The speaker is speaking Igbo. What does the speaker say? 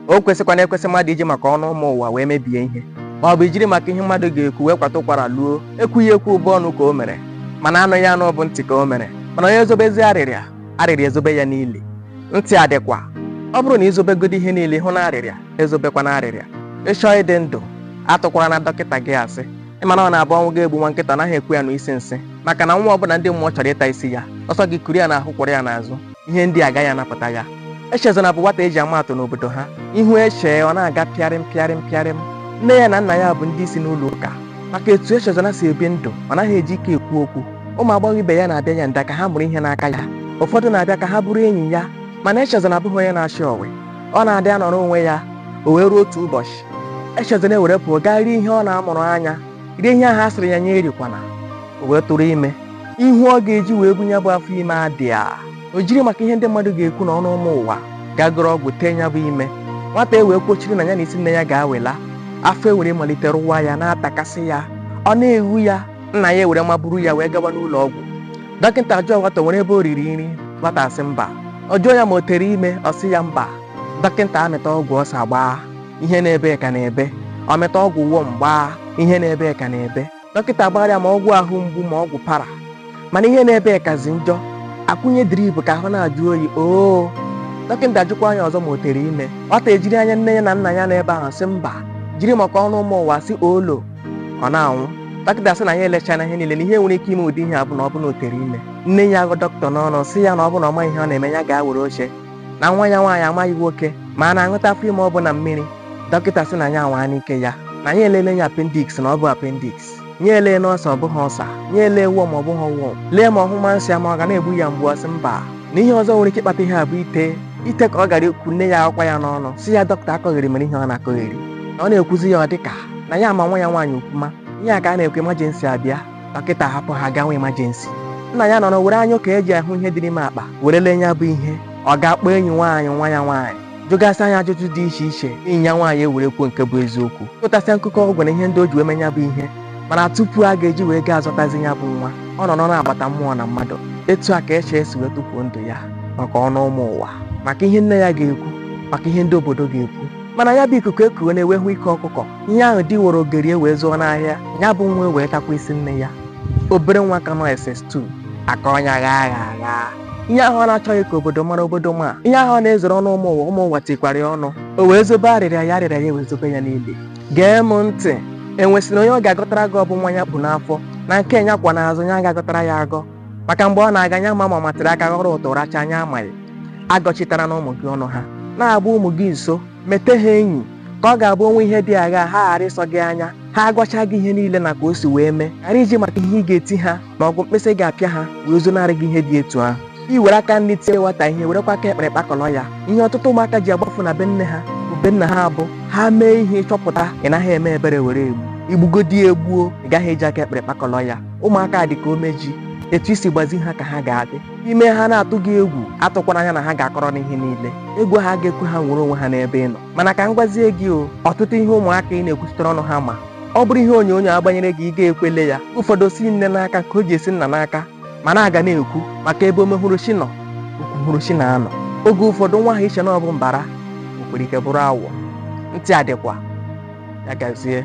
o kwesịkwana ekwesị mmadụ iji maka ọnụ ụmụ ụwa wee mebie ihe ma ọ bụ ijiri maka ihe mmadụ ga-ekwu wee kwata ụkwara luo ekwughị ekwu ọ bụ ọnụ ka o mere mana anụghị anụ bụ ntị ka o mere mana onye ezobezi arịrịa arịrịa ezobe ya n'ili ntị adịkwa ọ bụrụ na i zobegodi ihe niile hụ na arịrịa ezobekwana arịrịa ị chọọ ịdị ndụ atụkwarana dọkịta gị asị ị ma na ọ na-abụ ọnwụ ga-egbu nwa nkịta anaghị ekwe ya anụ isi nsị maka na nwa ọbụla ndị mmụọ chọrọ ịta isi ya ọ sọ gị kuru ya n'ahụ kwọrọ ya n'azụ ihe ndị a agaghị anapụta ya echezona bụ nwata eji ama atụ n'obodo ha ị hụ eche ọ na-aga pịarịm pịarịm pịarịm nne ya na nna ya bụ ndị isi n'ụlọ ụka maka etu echezona si ebi ndụ ọ naghị eji ike ekwu okwu ụmụ agbọghọ ibe ya na-abịa ya nda ka ha mụrụ ihe n'aka ya ụfọdụ na-abịa ka ha bụrụ enyi ya mana echezona abụghị onye na-achị ọwe ọ na-adị anọrọ onwe ya o wee ruo otu ụbọchị echezona ewere pụọ gaa rie ihe ọ na-amụrụ anya rie ihe ahụ a sịrị ya nya erikwana o wee tụrụ ime ihu ọ ga-eji wee bu ya bụ afọ ime adịa o jiri maka ihe ndị mmadụ ga-ekwu na ọnụ ụmụ ụwa gaa goro ọgwụ tee ya bụ ime nwata e wee kwochiri na ya na isi nne ya ga-awela afọ ewere malite rụwa ya na-atakasị ya ọ na-eghu ya nna ya ewere maburu ya wee gawa n'ụlọ ọgwụ dọkịta jụọ nwata o nwere ebe o riri nri nwata asị mba ọ jụọ ya ma o tere ime ọ sị ya mba dọkịta amịta ọgwụ ulcer gbaa ihe na-ebe ka na-ebe ọ mịta ọgwụ worm gbaa ihe na-ebe ka na-ebe dọkịta gbara ya ma ọgwụ ahụ mgbu ma ọgwụ para mana ihe na-ebe kazi njọ a kwụnye drip ka ahụ na-ajụ oyi oo dọkịta jụkwaa ya ọzọ ma o tere ime nwata ejiri anya nne ya na nna ya n'ebe ahụ sị mba jiri maka ọnụ ụmụ ụwa sị olo ọ na-anwụ dọkịta sị na ya elechana ihe niile na ihe nwere ike ime ụdị ihe a bụ na ọ bụ na o tere ime nne ya agụ dọkịta n'ọnụ sị ya na ọ bụ na ọ maghị ihe ọ na-eme ya gaa were oche na nwa ya nwaanyị amaghị nwoke ma a na-aṅụta afọ ime ọ bụ na mmiri dọkịta sị na ya anwaana ike ya na ya elele ya appendix na ọ bụ appendix nya elee na ulcer ọ bụghị ulcer nya elee worm ọ bụghị worm lee ma ọ nyụma nsị ma ọ ga na-egbu ya mgbu ọ sị mba na ihe ọzọ nwere ike ịkpata ihe a bụ ite ite ka ọ gara ikwu nne ya akwa ya n'ọnụ sị ya dọkịta akọgheri mere ihe ọ na-akọgheri na ọ na-ekwuzi ya ọ dịka na ya ama nwa ya nwaanyị okwuma ihe a ka a na-ekwu emergency abịa dọkịta hapụ ha gawa emergency nna ya nọrọ were anya okei ji ahụ ihe dị n'ime akpa were lee ya bụ ihe ọ gaa kpọọ enyi nwaanyị nwa ya nwaanyị jụgasịa ya ajụjụ dị iche iche enyi ya nwaanyị ewere kwuo nke bụ eziokwu tụtasịa nkụkọ ọgwụ na ihe ndị o ji wee mee ya bụ ihe mana tupu a ga-eji wee gaa azọtazi ya bụ nwa ọ nọrọ n'agbata mmụọ na mmadụ etu a ka eche esi wee tufuo ndụ ya maka ọnụ ụmụ ụwa maka ihe nne ya ga-ekwu maka ihe ndị obodo ga-ekwu mana ya bụ ikuku ekuona e wee hụ ike ọkụkọ ihe ahụ di were ogeri e wee zụọ n'ahịa ya bụ nwa wee takwa isi nne ya obere nwa ka nọ ss2 aka ọnya gha agha agha ihe ahụ ọ na-achọghị ka obodo mara obodo ma ihe ahụ ọ na-ezoro ọnụ ụmụ ụwa ụmụ ụwa tikwara ya ọnụ o wee zobe arịrịa ya arịrịa ya wee zobe ya n'ili gee m ntị enwesịrị onye ọ ga-agọtara gị ọ bụ nwa ya kpu n'afọ na nke ya kwọ n'azụ ya ga-agọtara ya agọ maka mgbe ọ na-aga onye ma ma matịrị aka ghọrọ ụtụ racha anyị amaghị agọchitarana ụmụ gị ọnụ ha na-agba ụmụ gị nso mete ha enyi ka ọ ga-abụ o nwee ihe dị agha ha ghara ịsọ gị anya ha agwacha gị ihe niile na ka o si wee mee ghara iji maka ihe ị ga-eti ha ma ọ bụ mkpịsị ị ga-apịa ha wee zonarị gị ihe dị etu ahụ i were aka nri tie nwata ihe werekwa aka ekpe were kpakọrọ ya ihe ọtụtụ ụmụaka ji agbafu na be nne ha bụ be nna ha bụ ha mee ihe ị chọpụta ị naghị eme ebere were egbu i gbugodi egbuo ị gaghị eji aka ekpe were kpakọrọ ya ụmụaka dị ka ome ji etu i si gbazie ha ka ha ga-adị i mee ha na-atụ gị egwu atụkwara anya na ha ga-akọrọ gị ihe niile egwu ahụ ga-ekwe ha nwere onwe ha n'ebe ị nọ mana ka m gwazie gị o ọtụtụ ihe ụmụaka ị na-ekwuchitere ọnụ ha ma ọ bụrụ ihe onyonyo a gbanyere gị ị ga-ekwe lee ya ụfọdụ si nne n'aka ka o ji esi nna n'aka mana a ga na-ekwu maka ebe omehụrụ chi nọ okwuhụrụ chi na-anọ oge ụfọdụ nwa ahụ i che na ọ bụ mbara o nwere ike bụrụ awọ ntị adịkwa ya gazie